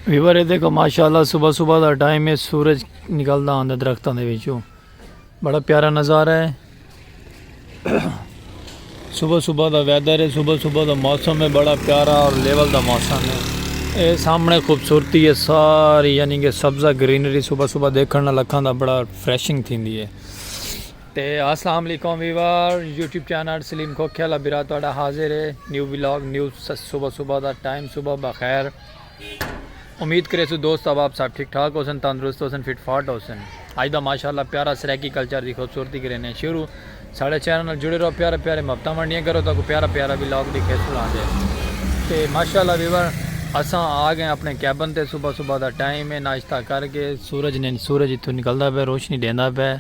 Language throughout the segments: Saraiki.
ویور ہے دیکھو ماشاءاللہ صبح صبح دا ٹائم ہے سورج نکلدا ہوندا درختاں دے وچوں بڑا پیارا نظارہ ہے صبح صبح دا ویدر ہے صبح صبح دا موسم ہے بڑا پیارا اور لیول دا موسم ہے اے سامنے خوبصورتی ہے ساری یعنی کہ سبزہ گرینری صبح صبح دیکھن نال اکھاں دا بڑا فریشنگ تھیندی ہے تے اسلام علیکم ویور یوٹیوب چینل سلیم کھوکھیا لا برا تہاڈا حاضر ہے نیو ولاگ نیو صبح صبح دا ٹائم صبح بخیر امید کرے سو دوست احباب صاحب ٹھیک ٹھاک ہو سن تندرست ہو سن فٹ فاٹ ہو سن اج دا ماشاءاللہ پیارا سرائیکی کلچر دی خوبصورتی کرینے شروع ساڑے چینل جڑے رہو پیارے پیارے محبتاں ونڈیاں کرو تاکو پیارا پیارا ولاگ دی کھیس بلان دے تے ماشاءاللہ ویور اساں آ گئے اپنے کیبن تے صبح صبح دا ٹائم ہے ناشتہ کر کے سورج نے سورج اتھو نکلدا پہ روشنی دیندا پہ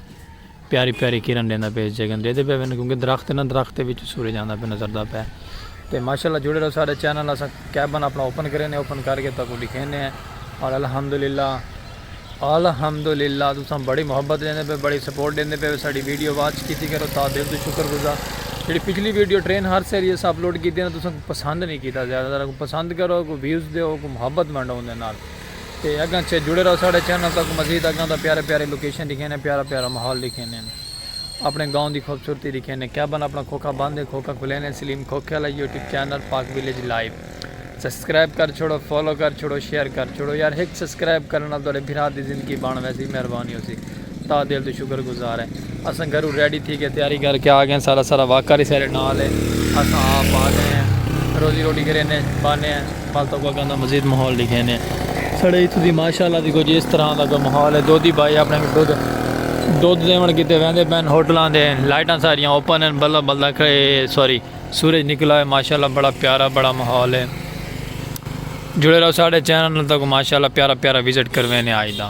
پیاری پیاری کرن ڈیندا پئے جگن ڈیدے پئے ون کیونکہ درخت ہے نا درخت دے وچ سورج آندا پئے نظر دا پئے تے ماشاءاللہ جڑے رہو ساڈے چینل اساں کیبن اپنا اوپن کرے نے اوپن کر کے تہاکوں ڈکھینے ہیں اور الحمدللہ الحمدللہ تساں بڑی محبت ڈیندے پئے بڑی سپورٹ ڈیندے پئے ساڈی ویڈیو واچ کیتی کرو تہاڈا دل توں شکر گزار جیڑھی پچھلی ویڈیو ٹرین ہارس آلی اساں اپلوڈ کیتی نا تساں پسند نہیں کیتا زیادہ تر پسند کرو کوئی ویوز دیو کوئی محبت ونڈو اوندے نال۔ تے اگاں چے جڑے رہو ساڈے چینل تاکوں مزید اگاں دا پیارے پیارے لوکیشن ڈکھینے پیارا پیارا ماحول ڈکھینے اپنے گاؤں دی خوبصورتی ڈکھینے کیبن اپنا کھوکھا بند ہے کھوکھا کھلینے سلیم کھوکھے آلا YouTube channel Pak village live subscribe کر چھوڑو فالو کر چھوڑو شیئر کر چھوڑو یار ہک سبسکرائب کرن نال تہاڈے بھرا دی زندگی بن ویسی مہربانی ہوسی۔ تاں دل توں شکر گزار ہیں۔ اساں گھروں ریڈی تھی کے تیاری کر کے آ گئے ہیں۔ سارا سارا واقعہ ری سارے نال ہے۔ اساں آپ آ گئے ہیں۔ روزی روٹی کرینے ہیں۔ بانے ہیں۔ بس تکو اگاں دا مزید ماحول ڈکھینے ہیں۔ ساڑے اتھوں دی ماشاء اللہ دی کچھ اس طرح دا کوئی ماحول ہے۔ دودھی بھائی اپنے کو دودھ دودھ دیون کیتے ویندے پئے ہیں۔ ہوٹلاں دے لائٹاں ساریاں اوپن ہیں۔ بلدا بلدا سوری سورج نکلا ہے۔ ماشاء اللہ بڑا پیارا بڑا ماحول ہے۔ جڑے رہو ساڑے چینل تکو ماشاء اللہ پیارا پیارا وزٹ کروینے آج دا۔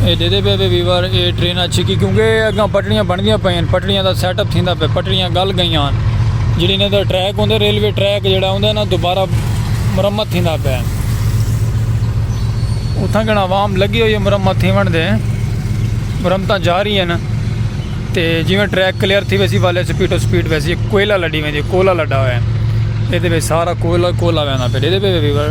اے ڈیدے پے وے ویور اے ٹرین اچھی کی کیونکہ اگاں پٹڑیاں بندیاں پئیں ہیں پٹڑیاں دا سیٹ اپ تھیندا پے پٹڑیاں گل گئیاں ہیں جڑی نے دا ٹریک ہوندے ریلوے ٹریک جڑا ہوندے نا دوبارہ مرمت تھیندا پے اتھاں گنا عوام لگی ہوئی ہے مرمت تھیون دے مرمتاں جا رہی ہیں نا تے جیویں ٹریک کلیئر تھی ویسی والے سپیڈ و سپیڈ ویسی کوئلہ لڈی ویندی کوئلہ لڈا ہوئے ہیں اے دے سارا کوئلہ کوئلہ ویندہ پے دے دے پے ویور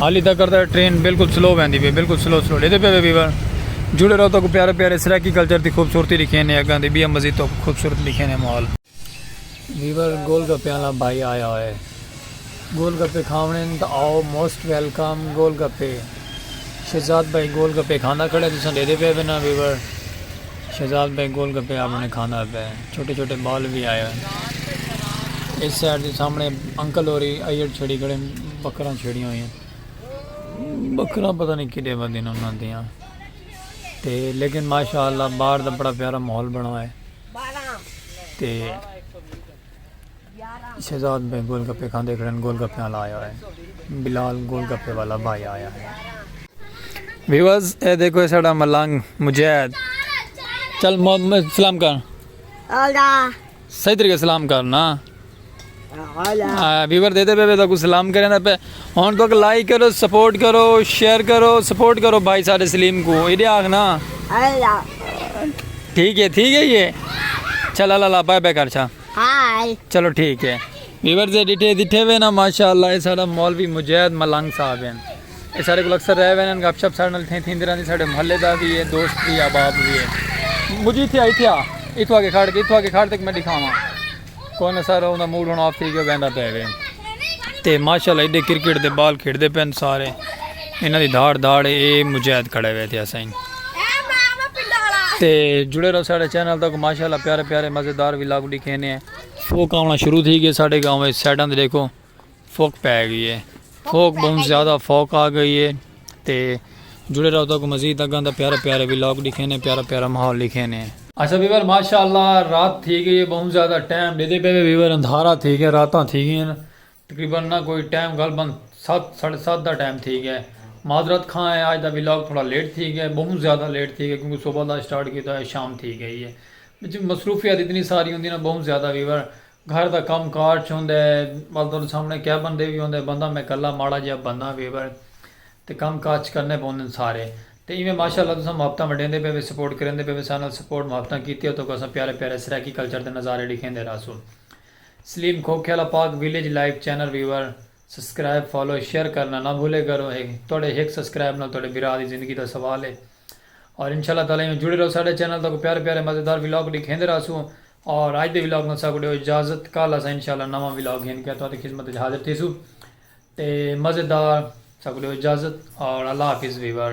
حالی تکر تہ ٹرین بالکل سلو ویندی پئی بالکل سلو سلو لیندے پئے ویور جڑے رہو تہاکوں پیارے پیارے سرائیکی کلچر دی خوبصورتی ڈکھینے اگاں دی بیا مزید تہاکوں خوبصورت ڈکھینے ماحول۔ ویور گول گپے آلا بھائی آیا ہوئے گول گپے کھاونے ہن تہ آؤ موسٹ ویلکم گول گپے شہزاد بھائی گول گپے کھاندا کھڑے تساں ڈیدے پئے وینا ویور۔ شہزاد بھائی گول گپے آپ نے کھاندا ہوئے پئے چھوٹے چھوٹے بال وی آئے ہوئے اس سائیڈ دے سامنے انکل ہوری ایڈ چھڑی کھڑے بکراں چھڑیاں ہوئیں بکراں پتہ نہیں کڈے ودے نے انہاں دیاں تے لیکن ماشاءاللہ باہر دا بڑا پیارا ماحول بنا ہوئے تے شہزاد بھائی گول گپے کھاندے کھڑن گول گپے آلا آیا ہے بلال گول گپے والا بھائی آیا ہے۔ ویورز اے دیکھو اے ساڑا ملنگ مجید چل سلام کر صحیح طریقے سلام کرنا ویور دے دے بے بے تاکو سلام کریں دا پہ ہون تو کہ لائک کرو سپورٹ کرو شیئر کرو سپورٹ کرو بھائی سارے سلیم کو ایڈے آگنا ٹھیک ہے ٹھیک ہے یہ چل اللہ اللہ بائے بے کر چھا ہائے چلو ٹھیک ہے ویورز دے ڈیٹے دیٹھے ہوئے نا ماشاءاللہ اے سارا مولوی مجید ملنگ صاحب ہیں اے سارے کو اکثر رہے ہوئے نا گپ شپ سارے نال تھیں تھیں دیران دی سارے محلے دا بھی ہے دوست بھی آباب بھی ہے مجھے تھیا ہی تھیا اتھو آگے کھڑ کے اتھو آگے کھڑ تک میں دکھاواں کوئی نہ سارا انہا موڈ ہونا آف تھی گیا بیندا پہ ہوئے تے ماشاءاللہ ایڈے کرکٹ دے بال کھڑ دے پین سارے انہاں دی دھاڑ دھاڑ اے مجاہد کھڑے ہوئے تھے اسائیں تے جڑے رہو ساڑے چینل تک ماشاءاللہ پیارے پیارے مزیدار ولاگ ڈکھینے ہیں فوک آونا شروع تھی گئے ساڑے گاؤں میں سیڈن دے دیکھو فوک پہ گئی ہے فوک بہن زیادہ فوک آ گئی ہے تے جڑے رہو تک مزید اگاں دا پیارے پیارے ولاگ ڈکھینے ہیں پیارے پیارے محول ڈکھینے ہیں اچھا بیور ماشاءاللہ رات تھی گئی ہے بہن زیادہ ٹائم دے دے پہ بیور اندھارا تھی گئے راتاں تھی گئے ہیں تقریبا نہ کوئی ٹائم غالبا ست ساڑھے ست دا ٹائم تھی گئے معذرت خواں ہے آج دا ولاگ تھوڑا لیٹ تھی گئے بہوں زیادہ لیٹ تھی گئے کیونکہ صبح دا سٹارٹ کیتا ہے شام تھی گئی ہے وچ مصروفیات اتنی ساری ہوندی نا بہوں زیادہ ویور گھر دا کم کار چھ ہوندے بس تہاڈے سامنے کیا بندے وی ہوندے بندہ میں کلا ماڑا جیا بندہ ویور تے کم کاج کرنے پوندن سارے تے ایویں ماشاءاللہ تساں محبتاں ونڈیندے پئے وے سپورٹ کریندے پئے وے ساڈے نال سپورٹ محبتاں کیتی ہے تہاکوں اساں پیارے پیارے سرائیکی کلچر دے نظارے ڈکھیندے رہسوں۔ سلیم کھوکھیالہ Pak village live channel viewer subscribe follow share کرنا نہ بھولے کرو ہک تہاڈے ہک سسکرائب نال تہاڈے بھرا دی زندگی دا سوال ہے اور انشاء اللہ تعالی ایویں جڑے رہو ساڈے چینل تاکوں پیارے پیارے مزیدار ولاگ ڈکھیندے راہسو اور اج دے ولاگ نال ساکوں ڈیو اجازت کل اساں انشاء اللہ نواں ولاگ گھن کے تہاڈی خدمت وچ حاضر تھیسو تے مزیدار ساکوں ڈیو اجازت اور اللہ حافظ ویور۔